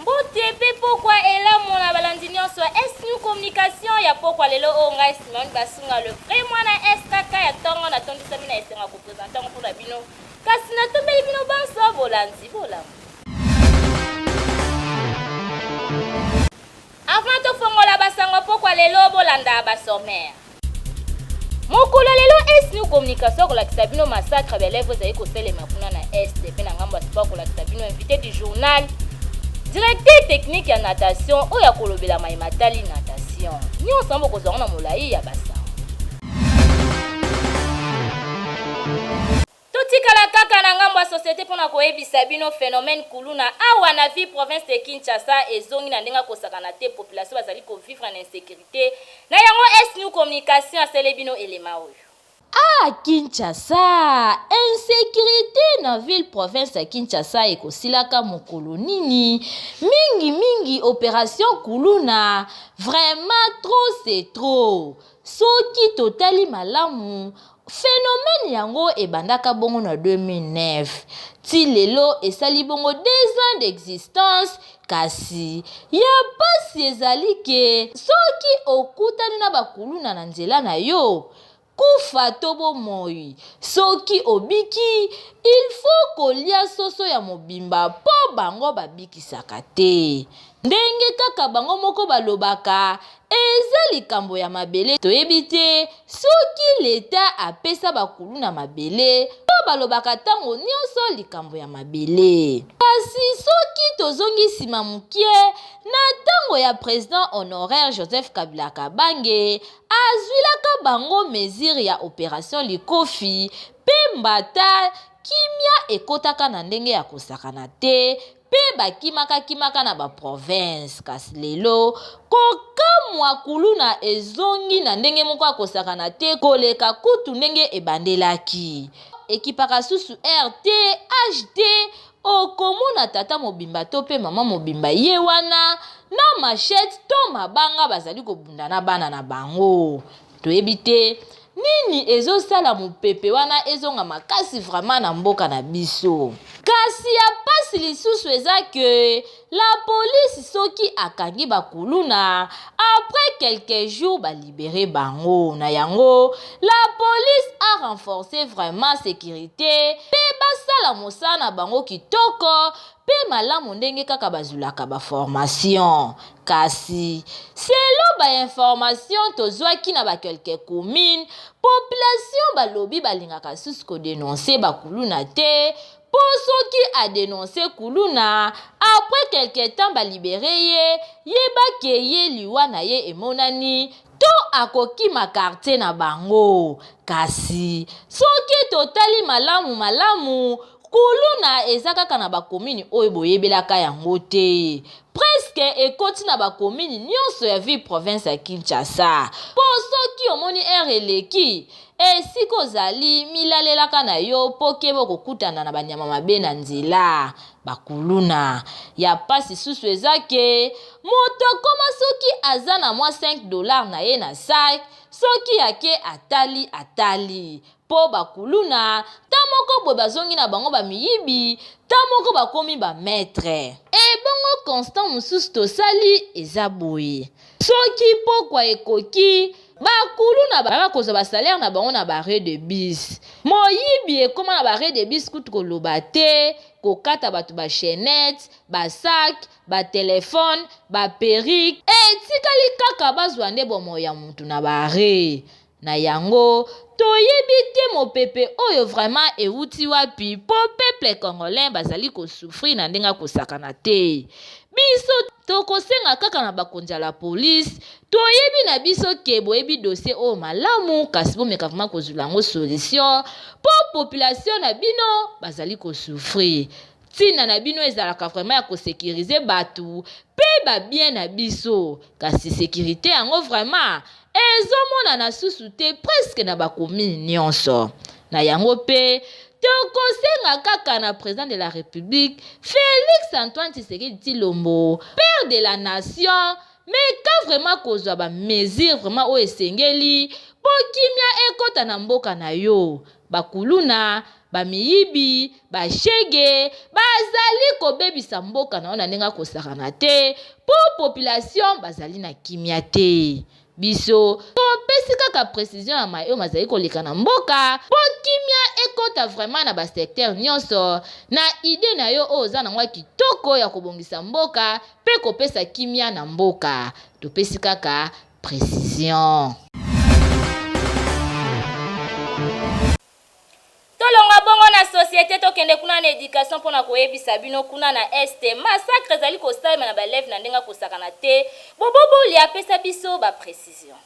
Mbote mpe pokwa elamu na balandi nyonso ya Est New Communication ya pokwa lelo oyo ngai Simeon Basunga le vrai mwana SKK ya tongo natondisami na esengo ya kopresente yango mpo na bino kasi natombeli bino banso bolandi bolamu Avant to fongola ba sango pokwa lelo bo landa ba sommaire. Mokolo ya lelo Est New Communication akolakisa bino massacre ya lèvres ezali koselema kuna na Est pe na ngambo ya sport akolakisa bino invité du journal directeur technique ya natation oyo akolobela mai matali natation nyonso yango bokozwa yango na molai ya basango Totikala kaka na ngambo ya societe pona koyebisa bino phenomène kuluna awa na ville province de Kinshasa ezongi na ndenge ya kosakana te population bazali ko vivre na insecurite na yango est nous communication asele bino element oyo. Ah Kinshasa! Insecurite na ville province ya Kinshasa ekosilaka mokolo nini? Mingi mingi operation kuluna vraiment trop c'est trop soki totali malamu Phenomène yango ebandaka bongo na 2009 ti lelo esali bongo deux ans d'existence kasi ya pasi ezali ke soki okutani na ba kuluna na nzela na yo, kufa to bomoi, soki obiki il faut kolia soso ya mobimba po bango babikisaka te. Ndenge kaka bango moko balobaka Eza likambo ya mabele toyebi te soki leta apesa ba kuluna mabele po balobaka tango nionso likambo ya mabele kasi soki tozongi sima mukie na tango ya president honoraire Joseph Kabila Kabange azuilaka bango mesure ya operation likofi pe mbata kimia ekotaka na ndenge ya kosakana te mpe bakimakakimaka na baprovince. Kasi lelo, kokamwa kuluna ezongi na ndenge moko ya kosakana te koleka kutu ndenge ebandelaki. Ekipaka susu heure te, age te, okomona tata mobimba to mpe mama mobimba ye wana na machette to mabanga bazali kobunda na bana na bango. Toyebi te nini ezosala mopepe wana ezonga makasi vraiment na mboka na biso. Kasi ya pasi lisusu eza que la police soki akangi ba kuluna après quelques jours ba libere bango. Na yango la police a renforcer vraiment securite pe basala mosala na bango kitoko pe malamu ndenge kaka bazulaka ba formation. Kasi, selon ba informations tozwaki na ba quelques communes, population balobi balingaka lisusu ko denoncer ba kuluna te mpo soki a denoncer kuluna, après quelque temps ba liberer ye, yeba que ye liwa na ye emonani, to akokima quartier na bango. Kasi, soki totali malamu malamu, kuluna eza kaka na bakomini oyo boyebelaka yango te preske ekoti na bakomini nyonso ya ville province ya kinshasa mpo soki omoni ere eleki esika ozali milalelaka na yo mpo keba okokutana na banyama mabe na nzela bakuluna ya mpasi susu eza ke moto akoma soki aza na mwa 5 dollars na ye na sak soki ake atali atali po ba kuluna ta moko boye bazongi na bango ba miyibi ta moko bakomi ba maitre. Ebongo constant mususu tosali eza boye soki pokwa ekoki ba kuluna baya kozwa ba salaire na bango na ba arret de bus moyibi ekoma na ba arret de bus kutu koloba te kokata batu ba chainette ba sac ba telephone ba perique etikali kaka bazwa nde bomoi ya mutu na ba arret Na yango toyebi te mopepe oyo vraiment ewuti wapi po peuple congolais bazali ko souffrir na ndenge akosakana te. Biso tokosenga kaka na bakonzi ya la police toyebi na biso ke boyebi dossier oyo malamu kasi bomeka vraiment kozula yango solution po population na bino bazali ko souffrir. Ntina na bino ezalaka vraiment ya kosekirize bato mpe babien na biso, kasi sekirite yango vraiment ezomonana susu te preske na bakomini nyonso. Na yango mpe tokosenga kaka na president de la republique Felix Antoine Tshisekedi Tshilombo, père de la nation, Meka vraiment kozwa ba mesures vraiment oyo esengeli po kimia ekota na mboka na yo. Ba kuluna, ba miyibi, ba shegue bazali kobebisa mboka na yo na ndenge ya kosakana te po population bazali na kimia te. Biso topesi kaka precision ya maye oyo mazali koleka na mboka po kimia ekota vraiment na ba secteurs nionso. Na idee na yo oyo oza na yango ya kitoko ya kobongisa mboka, pe kopesa kimia na mboka. Topesi kaka precision. Tolongwa bongo na societe tokende kuna na education mpo na koyebisa bino kuna na est massacre ezali kosalema na baleve na ndenge akosakana te bobobolia apesa biso ba precision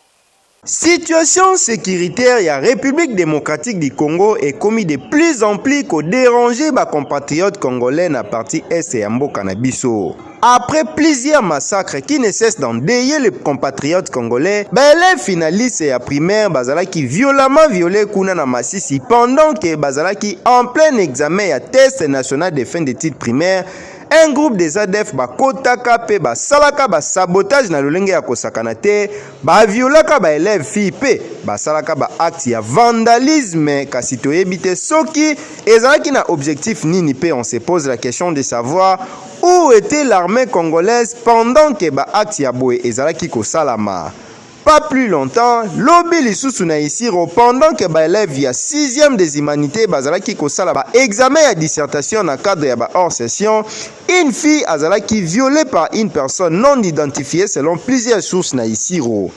Situation securitaire ya Republique democratique du Congo ekomi de plus en plus ko deranger ba compatriotes congolais na partie Est ya mboka na biso. Après plusieurs massacres qui ne cessent d'endeyer les compatriotes congolais, ba elèves finalistes ya primaire bazalaki violemment violes kuna na Masisi pendant que bazalaki en plein examen ya test national de fin d'etudes primaires, un groupe des adf bakotaka mpe basalaka ba sabotages na lolenge ya kosakana te, Ba violaka ba elèves filles pe basalaka ba actes ya vandalisme kasi toyebi te soki ezalaki na objectif nini pe on se pose la question de savoir où etait l'armee congolaise pendant que ba actes ya boye ezalaki kosalama? Pas plus longtemps, lobi lisusu na Isiro pendant que ba elèves ya sixième des humanites bazalaki kosala ba examens ya dissertation na cadre ya ba hors session, Une fille azalaki violee par une personne non identifiee selon plusieurs sources na Isiro.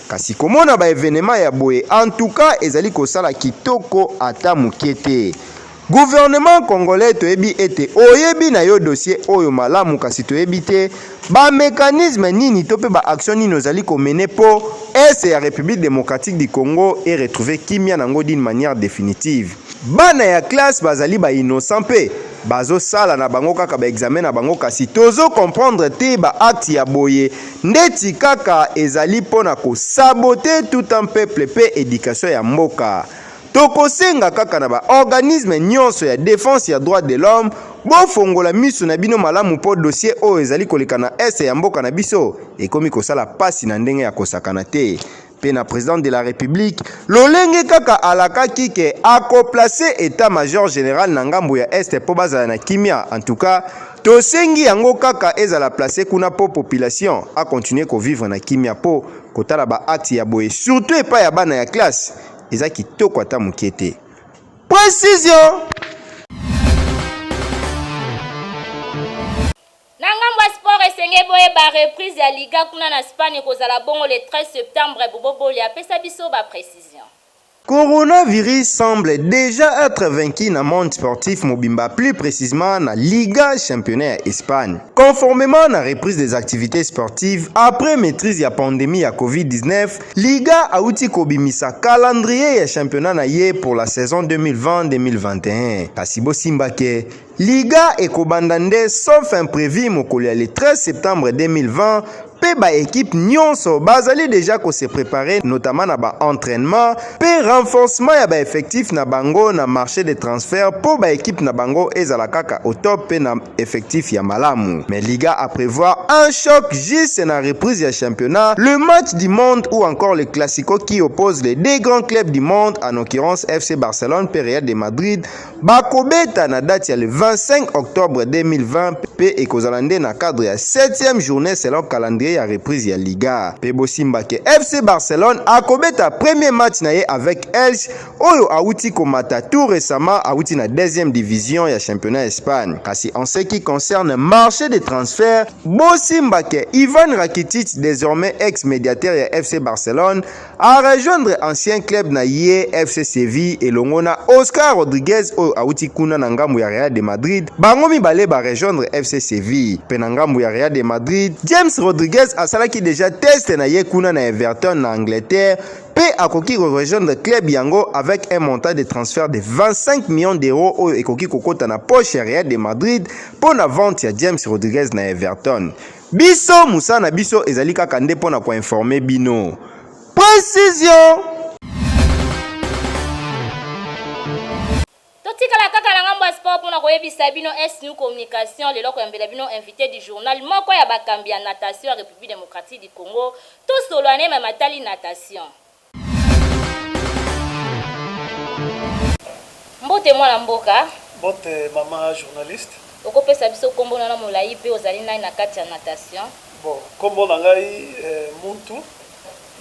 Kasi komona ba evenements ya boye en tout cas ezali kosala kitoko ata mukie te. Gouvernement congolais toyebi ete oyebi na yo dossier oyo malamu kasi toyebi te ba mecanismes nini to pe ba actions nini ozali ko mener po Est ya Republique democratique du Congo e retrouver kimia na ngo d'une manière definitive. Bana ya classe bazali ba innocent pe bazo sala na bango kaka ba examen na bango kasi tozo comprendre te ba acte ya boye ndeti kaka ezali pona ko sabote tout un peuple pe education ya mboka tokosenga kaka na ba organisme nionso ya defense ya droit de l'homme bofongola misu na bino malamu po dossier oyo ezali koleka na est ya mboka na biso ekomi kosala pasi na ndenge ya kosakana te mpe na president de la republique lolenge kaka alakaki ke akoplace etat major general na ngambo ya este mpo bazala na kimia en tout cas tosengi yango kaka ezala place kuna mpo population akontinue kovivre na kimia mpo kotala baacte ya boye surtout epai ya bana ya classe eza kitoko ata moke te precision Na ngambo ya sport esengeli boyeba reprise ya liga kuna na Spagne ekozala bongo le 13 septembre Bobo Boli apesa biso ba precision. Coronavirus semble dejà etre vaincu na monde sportif mobimba plus precisement na Liga championnat ya Espagne. Conformement na reprise des activites sportives après maitrise ya pandemie ya Covid-19, Liga awuti kobimisa calendrier ya championnat na ye pour la saison 2020-2021. Kasi bosimba ke Liga ekobanda nde sauf imprevu mokolo ya le 13 septembre 2020 mpe baekipe nyonso bazali deja kose prepare notamment na baentrainement mpe renforcement ya baeffectif na bango na marché de transfert mpo baekipe na bango ezala kaka au top mpe na effectif ya malamu mais liga a prévoir un choc juste na reprise ya championnat le match du monde ou encore le classico qui oppose les deux grands clubs du monde en occurrence fc barcelone mpe real de madrid Bakobeta na date ya le 25 octobre 2020 pe ekozala nde na cadre ya 7e journée selon calendrier ya reprise ya Liga. Pe bosimba ke FC Barcelone akobeta premier match na ye avec Elche oyo awuti komata tout récemment awuti na deuxième division ya championnat Espagne. Kasi en ce qui concerne marché de transfert, bosimba ke Ivan Rakitic désormais ex-mediateur ya FC Barcelone A rejoindre ancien club na ye FC Seville elongo na Oscar Rodriguez oyo awuti kuna na ngambo ya Real de Madrid. Bango mibale ba rejoindre FC Seville. Pe na ngambo ya Real de Madrid, James Rodriguez asalaki deja test na ye kuna na Everton na Angleterre pe akoki ko rejoindre club yango avec un montant de transfert de 25 millions d'euros oyo ekoki kokota na poche ya Real de Madrid po na vente ya James Rodriguez na Everton. Biso musala na biso ezali kaka nde mpo na koinforme bino. Precision! totikala kaka na ngambo ya sport mpo na koyebisa bino snu communication lelo koyambela bino invité du journal moko ya bakambi ya natation ya république démocratique du congo tosolola na ye ma matali natation Mbote mwana mboka. Mbote mama journaliste. Okopesa biso nkombo na molai mpe ozali nani na kati ya natation? Bon, nkombo na ngai eh, Muntu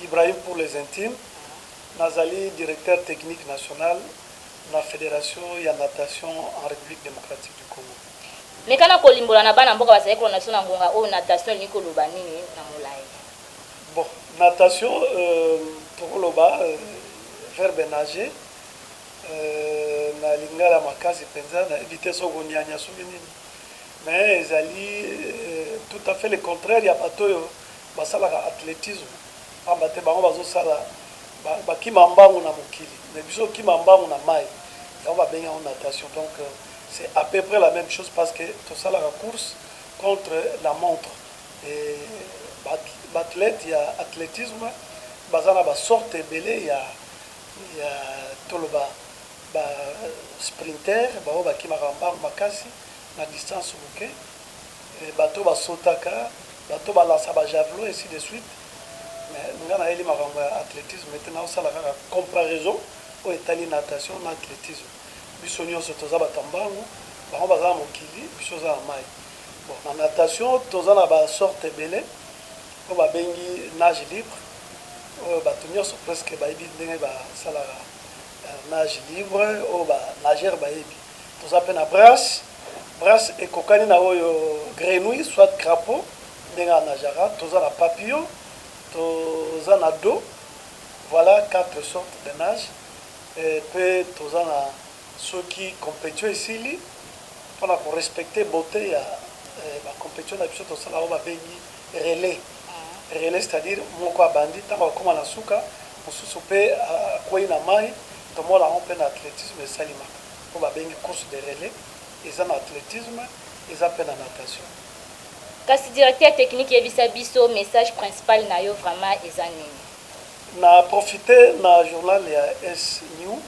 Ibrahim pour les intimes. Nazali directeur technique national na Federation ya natation en République démocratique du Congo. Mekana kolimbola na bana mboka bazali kolanda biso na ngonga oyo natation elingi koloba nini na molai. Bon natation toko loba verbe nager na lingala makasi penza na yebi te soki ko niania soki nini mais ezali tout à fait le contraire ya batu oyo ba salaka athletisme pamba te bango bazo sala ba kima mbangu na mokili mais biso ko kima mbangu na mayi yango ba bengi yango natation donc c'est à peu près la meme chose parce que to salaka course contre la montre. Ba athlètes ya athletisme baza na ba sortes ebele ya ya toloba ba sprinteurs ba oyo ba kimaka mbangu makasi na distance muke, batu oyo ba sautaka, batu oyo ba lancaka ba javelots ainsi de suite. Mais nga na yeli makambo ya athletisme te, nazo sala kaka comparaison oyo etali natation na athletisme. Biso nionso toza batu ya mbangu, bango baza na mokili, biso toza na mayi. Bon na natation toza na ba sorte ebele oyo ba bengi nage libre oyo batu nionso presque bayebi ndenge ba salaka nage libre oyo ba nageur bayebi. Toza pe na brasse, brasse ekokani na oyo grenouille soit crapaud ndenge a nagaka, toza na papillon, toza na do, voila quatre sorte de nage pe toza na Soki competition esili pona ko respecter beaute ya ba competition na biso tosala oyo babengi relais relais c'est à dire moko abandi tango akoma na suka mosusu pe akweyi na mayi tomona yango pe na athletisme esalimaka oyo babengi course de relais eza na athletisme eza pe na natation. Kasi directeur technique yebisa biso message principal na yo vraiment eza nini? Na profiter na journal ya S-new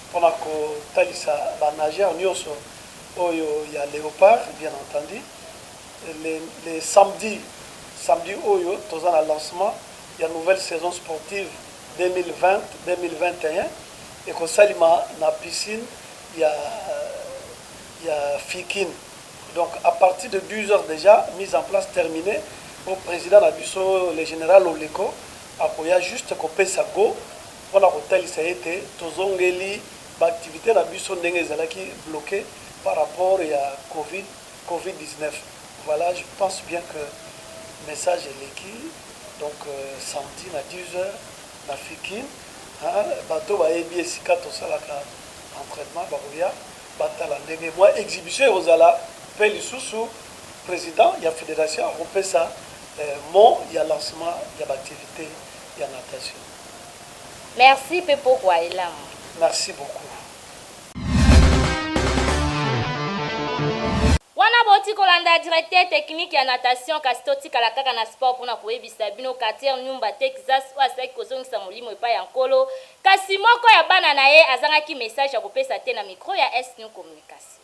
mpo na kotalisa ba nageurs nionso oyo ya Leopards bien entendu le le samedi samedi oyo toza na lancement ya nouvelle saison sportive 2020-2021 ekosalima na piscine ya ya Fikin donc à partir de 12 heures dejà mise en place terminee mpo president na biso le general Oleko akoya juste kopesa go mpo na kotalisa ete tozongeli ba activites na biso ndenge ezalaki bloquer par rapport ya covid, covid 19. Voilà je pense bien que message eleki donc samedi na 10 heures na Fikin hein bato oyo bayebi esika tosalaka entrainement bakoya batala ndenge mua exhibition ekozala mpe lisusu president ya federation akopesa mot ya lancement ya ba activites ya natation. Merci pe pokwa elamu. Merci beaucoup. Wana bowuti kolanda directeur technique ya natation kasi totikala kaka na sport pona koyebisa bino Cartier Numba Texas oyo asilaki kozongisa molimo epai ya Nkolo kasi moko ya bana na ye azangaki message ya kopesa te na micro ya Est-Nu Communication.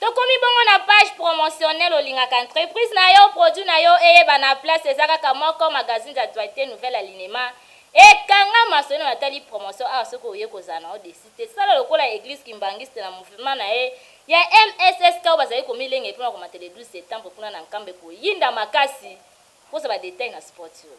Tokomi bongo na page promotionnelle olingaka entreprise na yo, produit na yo eyebana place eza kaka moko magazine d'actualite nouvelle alinema ekanga maso naino natali promotion awa soki oye kozala na yo deçu te sala lokola eglise kimbanguiste na mouvement na ye ya MSSK oyo bazali komilengele mpo na komata le 12 septembre kuna na Nkamba ekoyinda makasi kozwa ba details na spot oyo.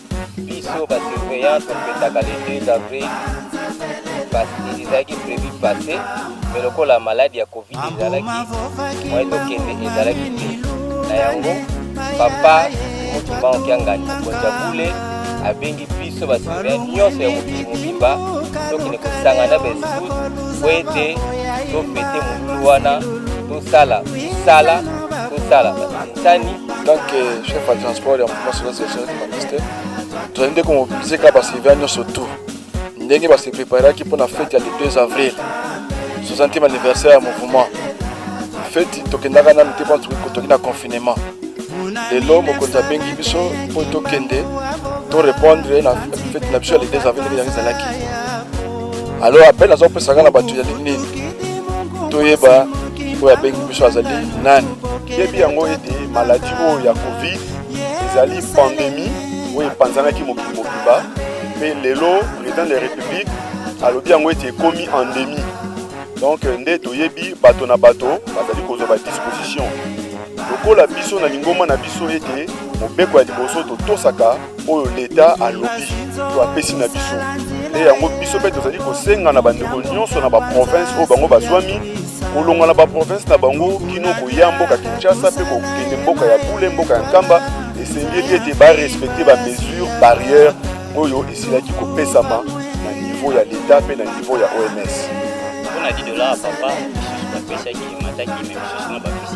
biso ba surveillance topetaka le 2 avril pasi ezalaki prevu passe me lokola maladi ya covid ezalaki moye tokende ezalaki te na yango papa motumba okiangani mokonzi ya bule abengi biso ba surveillance nyonso ya mokili mobimba tokende kosangana baescout po ete tofete molulu wana tosala sala tosala sani tant que chef ya transport ya mouvement solo session humaniste tozali nde komobilize kaka baservia nyonso tout ndenge base preparaki mpo na fete ya le 2 avril 60e anniversaire ya mouvement feti tokendaka nanu te mpo toki na confinement lelo mokonzi abengi biso mpo tokende torepondre na feti na biso ya le 2 avril ndenge yango ezalaki alors appel aza kopesa nga na bato ezali nini toyeba oyo abengi biso azali nani yebi yango ete maladi oyo ya covid ezali pandemi oyo epanzanaki mokili mobimba mpe lelo président de la république alobi yango ete ekomi endemi donc nde toyebi bato na bato bazali kozwa badisposition lokola biso na lingomba na biso ete mobeko ya liboso totosaka oyo leta alobi to apesi na biso nde yango biso mpe tozali kosenga na bandeko nyonso na baprovince oyo bango bazwami kolonga na baprovince na bango kino koya mboka kinshasa mpe kokende mboka ya bule mboka ya nkamba esengeli ete barespecte bamesure barrière oyo esilaki kopesama na niveau ya leta mpe na niveau ya oms mpona 10 dolar papa mosusu bapesaki emataki me mosusu na bapesi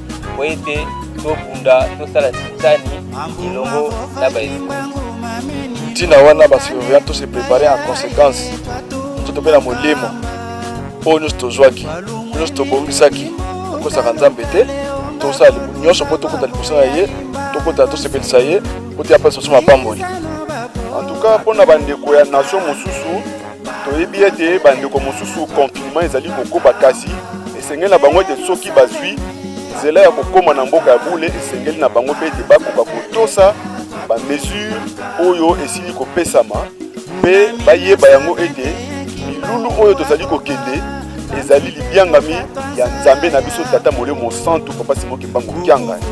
mpo ete tobunda tosala sisani elongo na baetuka ntina wana basurveillant tose prépare en conséquence nzoto mpe na molimo oyo nyonso tozwaki nyonso tobongisaki tokosaka nzambe te tosala nyonso mpo tokota liboso na ye tokota tosepelisa ye mpo te apesa biso mapamboli en tout cas mpo na bandeko ya nation mosusu Toyebi ete bandeko mosusu konfinema ezali kokoba, kasi esengeli na bango ete soki bazwi nzela ya kokoma na mboka ya bule, esengeli na bango mpe ete bakoka kotosa bamesure oyo esili kopesama mpe bayeba yango ete milulu oyo tozali kokende ezali libyangami ya nzambe na biso tata molimo mosantu papa simo kimbangu kiangani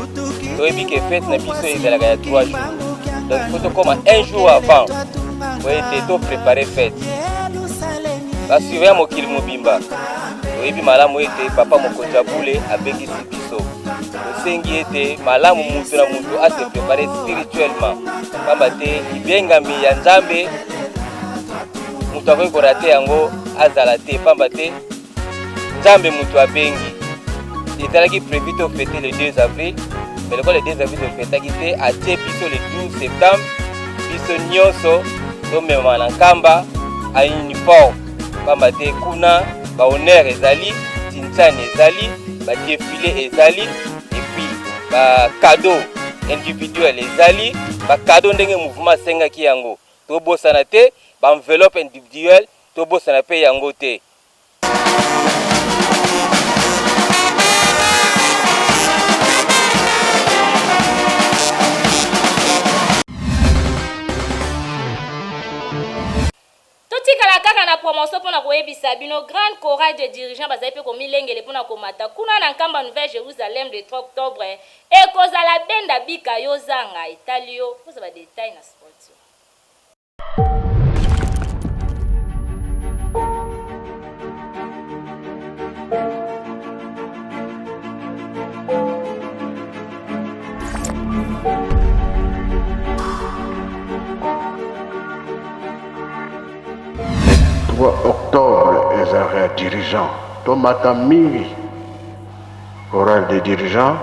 toyebi ke fete na biso ezalaka ya 3 jours donc fo tokoma un jour avant mpo ete to prepare fete basuveya mokili mobimba oyebi malamu ete papa mokonzi ya bule abengisi biso tosengi ete malamu moto na moto ase prepare spirituellement mpamba te libengami ya nzambe moto akoki korate yango azala te mpamba te nzambe moto abengi ezalaki prévu to fete le 2 avril mais lokola le 2 avril tofetaki te atie biso le 12 septembre biso nyonso tomemama na nkamba a uniforme mpamba te kuna bahonneur ezali tinsani ezali badefile ezali epuis bakado individuel ezali bakado ndenge mouvement asengaki yango tobosana te baenveloppe individuel tobosana mpe yango te totikala kaka na promotion mpo na koyebisa bino grande chorale de dirigeant bazali mpe komilengele mpo na komata kuna na nkamba nouvelle jérusalem le 3 octobre ekozala benda bika yo zanga etali yo kozwa badetail na sponsor dirigeants tomata mingi oral de dirigeant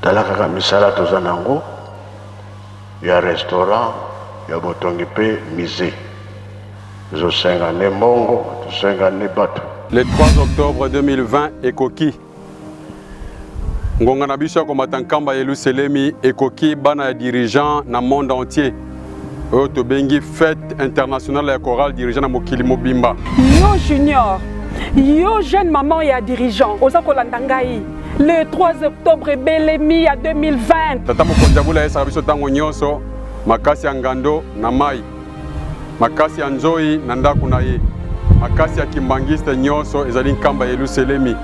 tala kaka misala toza na yango ya restaurant, ya botongi mpe musee. Tozosenga nde mbongo, tozosenga nde batu. Le 3 octobre 2020 ekoki. Ngonga na biso ya komata nkamba ya Yeluselemi ekoki bana ya dirigeant na monde entier. oyo tobengi fete internationale ya chorale dirigeant na mokili mobimba yo junior yo jeune maman ya dirigeant oza kolanda ngai Le 3 octobre ebelemi ya 2020. Tata mokonzi ya bula ayesaka biso ntango nyonso makasi ya ngando na mai, makasi ya nzoi na ndako na ye, makasi ya kimbangiste nyonso ezali nkamba ya Yeluselemi.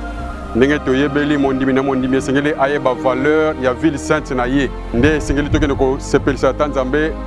ndenge toyebeli mondimi na mondimi esengeli ayeba valeur ya ville sainte na ye nde esengeli tokende kosepelisa ata nzambe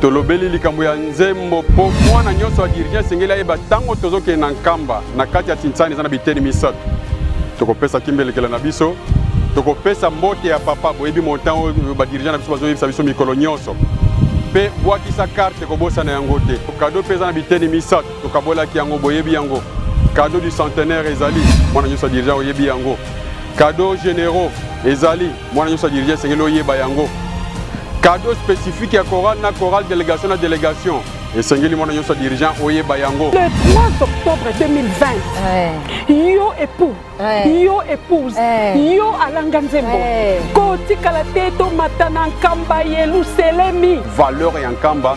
tolobeli likambo ya nzembo mpo mwana nyonso ya dirigent esengeli ayeba ntango tozokende na nkamba na kati ya tinsani eza na biteni misato tokopesa kimbelekela na biso tokopesa mbote ya papa boyebi montan oyo badirigent na biso bazoyebisa biso mikolo nyonso mpe bwakisa karte kobosana yango te kado mpe eza na biteni misato tokabolaki yango boyebi yango kado du centenaire ezali mwana nyonso ya dirigent oyebi yango kado généraux ezali Mwana nyonso ya dirige esengeli oyeba yango. Cadeau spécifique ya chorale na chorale, délégation na délégation. esengeli mwana nyonso ya dirigeant oyeba yango le 3 octobre 2020 yo époux yo épouse yo alanga nzembo kotikala te tomata na nkamba yeluselemi valeur ya nkamba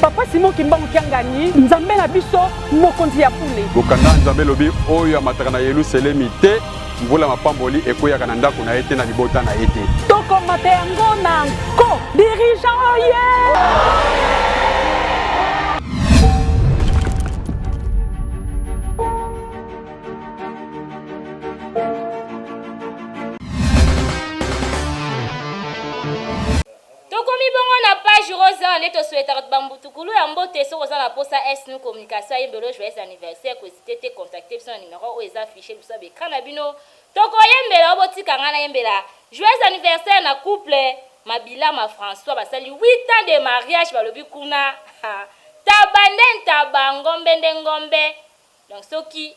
Papa Simon Kimbangu Kiangani, Nzambe na biso, mokonzi ya bule. Mokanda Nzambe elobi oyo amataka na Yeluselemi te, mvula ya mapamboli ekweyaka na ndako na ye te, na libota na ye te. Tokomata yango na nko! Dirigeant oye! Tokomi bongo na page rose awa nde to souhaitaka ba mbutukulu ya mbote soki oza na posa es nous communication ayemba elo joyeux anniversaire ko hesiter te contacter biso na numero oyo eza afficher liboso ya ba ecran na bino toko yembela yo botika ngai na yembela joyeux anniversaire na couple mabila ma François basali 8 ans de mariage balobi kuna ha taba nde ntaba ngombe nde ngombe donc soki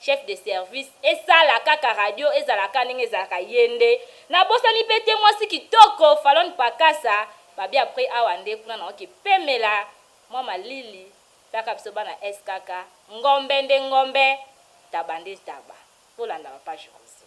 Chef de service esala kaka radio ezala ka ndenge ezalaka ye nde na bosani pe te mwasi kitoko falonne pakasa babia après awa nde kuna na oke pemela mwa malili paka biso bana skk ngombe nde ngombe ntaba nde ntaba bolanda ba page rozo.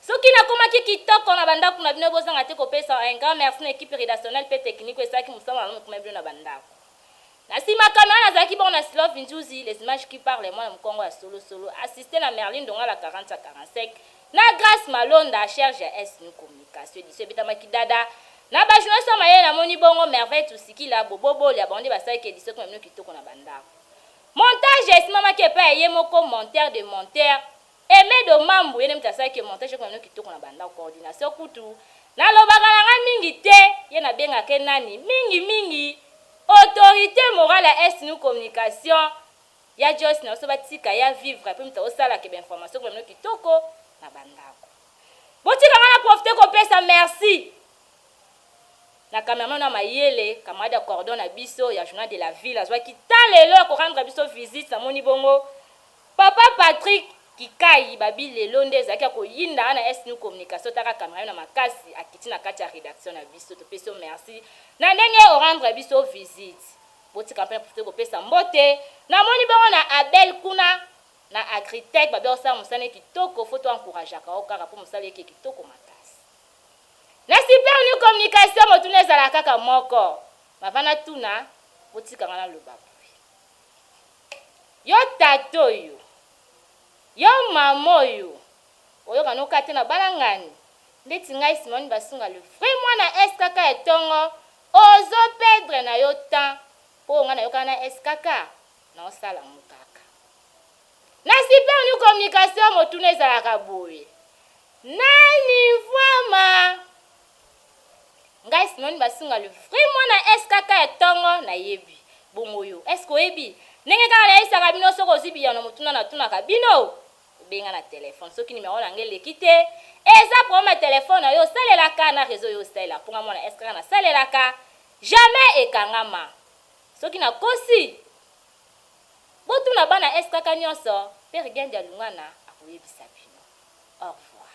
Soki nakomaki kitoko na ba ndaku na bino bozanga te kopesa un grand merci na equipe redactionnelle pe technique oyo esalaki musala malamu na komema bino na ba ndaku. Na sima camera nazalaki bongo na Silove Nzuzi, les images qui parlent mwana mukongo ya solo solo, assiste na Merlin Ndongala 40 ya 45, na Grace Malonda charge ya SNU communication. Edition ebetamaki dada na ba journalistes ya mayele namoni bongo Merveille Tusikila, Bobo Bolia bango nde basalaki edition ekoma bino kitoko na ba ndaku. Montage esimamaki epai ya ye moko monteur de monteur. Aime Domambu ye nde mutu asalaki que montage ekoma naino kitoko na bandako coordination kutu nalobaka na ngai mingi te ye nabengaka ye nani mingi mingi autorite morale ya Est Nu Communication ya Joyce na biso batika ye a vivre pe mutu akosala que ba information ekoma naino kitoko na bandako botika ngai na profiter kopesa merci na cameraman oyo ya mayele camarade ya cordon na biso ya journal de la ville azwaki temps lelo ya ko rendre biso visite namoni bongo Papa Patrick kikayi babi lelo nde ezalaki ya koyinda nga na est nu communication taka camera yo na makasi akiti na kati ya redaction na biso topesi yo merci na ndenge orendre biso visite botika mpe na profite kopesa mbote na moni bongo na abel kuna na agritech babi osala mosane kitoko fo to encouragaka yo kaka mpo mosala eke kitoko makasi na super nu communication motuna ezala kaka moko mavana tuna botika nga na loba Yo tata oyo, yo mama oyo oyoka no kate na balangani ndeti ngai Simone Basunga le vrai mwana SKK ya tongo ozo perdre na yo temps po ngai nayokana na SKK nao sala mukaka na super new communication motuna ezalaka boye nani vraiment Ngai Simoni basunga le vrai mwana SKK ya tongo na yebi. Bongo yo, est ce que oyebi? Ndenge kaka na yebisaka bino soki ozui biyano na motuna na tunaka bino, obenga na telephone soki numero na nga eleki te, eza problème ya telephone na yo osalelaka na reseau yo osalela po nga mwana SKK na salelaka jamais ekangama. Soki na kosi, bo tuna bana SKK nionso, Père Gendia Lungana akoyebisa bino. Au revoir.